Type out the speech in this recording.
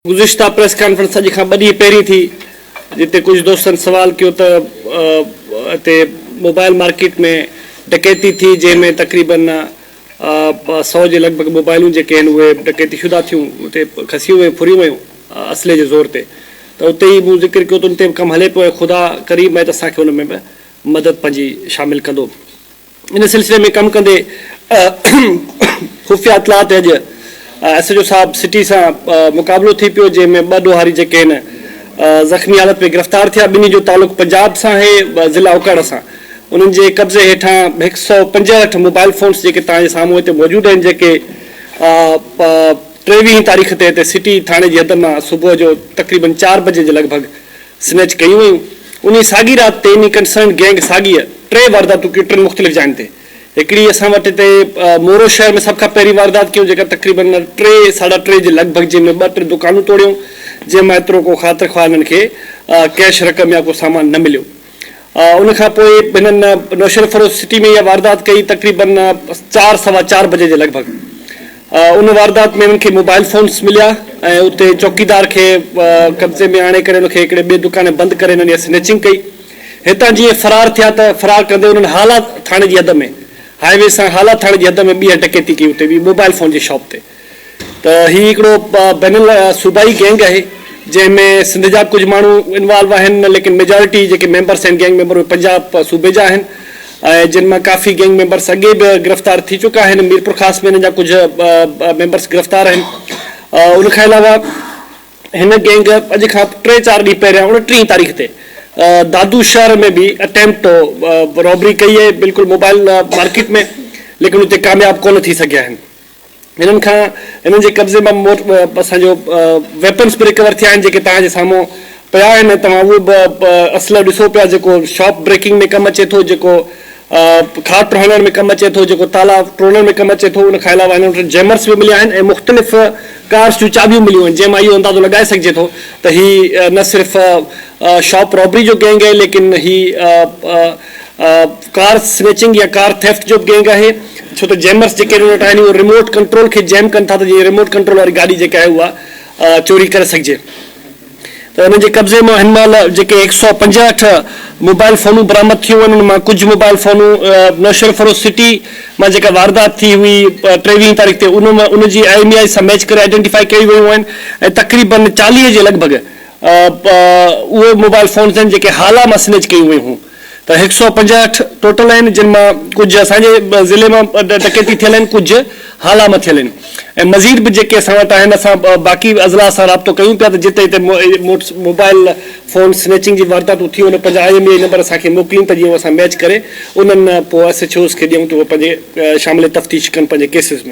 گذشته press conference اڄ کان ٻه ڏينهن پهرين ٿي جتي ڪجهه دوستن سوال ڪيو ته هتي موبائل مارڪيٽ ۾ ڊڪيتي ٿي جنهن ۾ تقريبن سؤ جي لڳ ڀڳ موبائلون جيڪي آهن اهي ڊڪيتي شده ٿيون اتي کسيون ويون ڦريون ويون اسلحي جي زور تي ته اتي ئي مون ذڪر ڪيو ته ان تي به ڪم هلي پيو ۽ خدا ڪريم آهي ته اسان کي ان ۾ به مدد پنهنجي شامل ڪندو. ان سلسلي ۾ ڪم ڪندي خفيه اطلاعات اڄ ايس ايڇ او صاحب سٽي سان مقابلو ٿي پيو جنهن ۾ ٻه ڏوهاري جيڪي هن زخمي حالت ۾ گرفتار ٿيا ٻنهي جو تعلق پنجاب سان آهي ضلع اوڪاڙا سان انهن جي قبضي هيٺان هڪ سؤ پنجهٺ موبائل فونس جيڪي توهان جي سامهون هتي موجود آهن جيڪي ٽيويهين تاريخ تي هتي سٽي ٿاڻي جي حد مان صبح جو تقريبن چار بجي جي لڳ ڀڳ سنئچ ڪيون ويون. انهيء ساڳي رات تي انهيء ڪنسرنڊ گينگ ساڳيء ٽي وارداتون ڪيون ٽن مختلف جاين تي. هڪڙي اسان وٽ هتي مورو شهر ۾ سڀ کان پهرين واردات ڪيون جيڪا تقريبن ٽي ساڍا ٽي جي لڳ ڀڳ جنهن ۾ ٻه ٽي دڪانون ٽوڙيائون جنهن مان ايترو ڪو خاطر خواهه انهن کي ڪيش رقم يا ڪو سامان نه مليو. ان کان پوء هنن نوشهروفيروز سٽي ۾ اها واردات ڪئي تقريبن چار سوا چار بجي جي لڳ ڀڳ ان واردات ۾ هنن کي موبائل فونس مليا ۽ اتي چوڪيدار کي قبضي ۾ آڻي ڪري ان کي هڪڙي ٻئي دڪان بند ڪري هنن اها سنيچنگ ڪئي هتان جيئن فرار ٿيا ته فرار ڪندي هنن هالا ٿاڻي جي حد ۾ هاء وي سان هالا ٿاڻي جي حد ۾ ٻيهر ڊڪيتي ڪئي اتي به موبائل فون جي شاپ تي ته هي هڪڙو بين الصوبائي گينگ آهي جنهن ۾ سنڌ جا به ڪجهه ماڻهو انوالو آهن ليڪن ميجارٽي جيڪي ميمبرس آهن گينگ ميمبر اهي پنجاب صوبي جا آهن ۽ جن مان ڪافي گينگ ميمبرس اڳي به گرفتار ٿي چڪا آهن ميرپورخاص ۾ هنن جا ڪجهه ميمبرس گرفتار آهن ان کان علاوه هن گينگ اڄ کان ٽي چار ڏينهن پهريان اڻٽيهين تاريخ تي دادو شهر ۾ به اٽيمپٽ رابري ڪئي آهي بلڪل موبائل مارڪيٽ ۾ ليڪن اتي ڪامياب ڪونه ٿي سگهيا آهن هنن کان هنن جي قبضي مان اسان جو ويپنس به رڪور ٿيا آهن جيڪي توهان جي سامهون پيا آهن ۽ توهان اهو به اسلحو ڏسو پيا جيڪو شاپ بريڪنگ ۾ ڪم اچي ٿو جيڪو کاٽ هڻڻ ۾ ڪم اچي ٿو جيڪو تالا ٽوڙڻ ۾ ڪم اچي ٿو ان کان علاوه هنن وٽ جيمرس به مليا آهن ۽ مختلف ڪارس جون چاٻيون مليون آهن جنهن مان اهو اندازو لڳائي سگهجي ٿو ته هي نه صرف شاپ رابري جو گينگ آهي ليڪن هي ڪار سنئچنگ يا ڪار ٿيفٽ جو به گينگ آهي ڇو ته جيمرز جيڪي ان وٽ آهن اهي رموٽ ڪنٽرول کي جيم ڪن ٿا ته جيئن رموٽ ڪنٽرول واري گاڏي جيڪا آهي اها چوري ڪري سگهجي ته انهن جي قبضي مان هن مهل جيڪي هڪ سؤ پنجاهٺ موبائل فونون برآمد ٿيون آهن ان مان ڪجهه موبائل فونون نوشهرفروش سٽي مان جيڪا واردات ٿي هئي ٽيويهين تاريخ تي ان مان ان جي آئي ايم اي آئي سان ميچ ڪري آئيڊينٽيفائي ڪيون ويون آهن ۽ تقريبن چاليهه جي لڳ ڀڳ اهي موبائل فونز آهن جيڪي هالا مان سنئچ ڪيون ويون هيون. ته هڪ سؤ پنجاهٺ ٽوٽل آهن جن مان ڪجهه اسان جي ضلعي مان ڊڪيتي ٿيل آهن ڪجهه هالا مان ٿيل آهن ۽ مزيد به جيڪي اسان وٽ آهن اسان باقي اضلاع سان رابطو ڪيون پيا ته جتي جتي موبائل فون سنيچنگ جي وارداتون ٿيون آهن پنهنجا I M E I number اسان کي موڪلين ته جيئن اسان ميچ ڪري انهن پوء ايس ايڇ اوز کي ڏيون ته اهي پنهنجي شامل تفتيش ڪن پنهنجي ڪيسز ۾.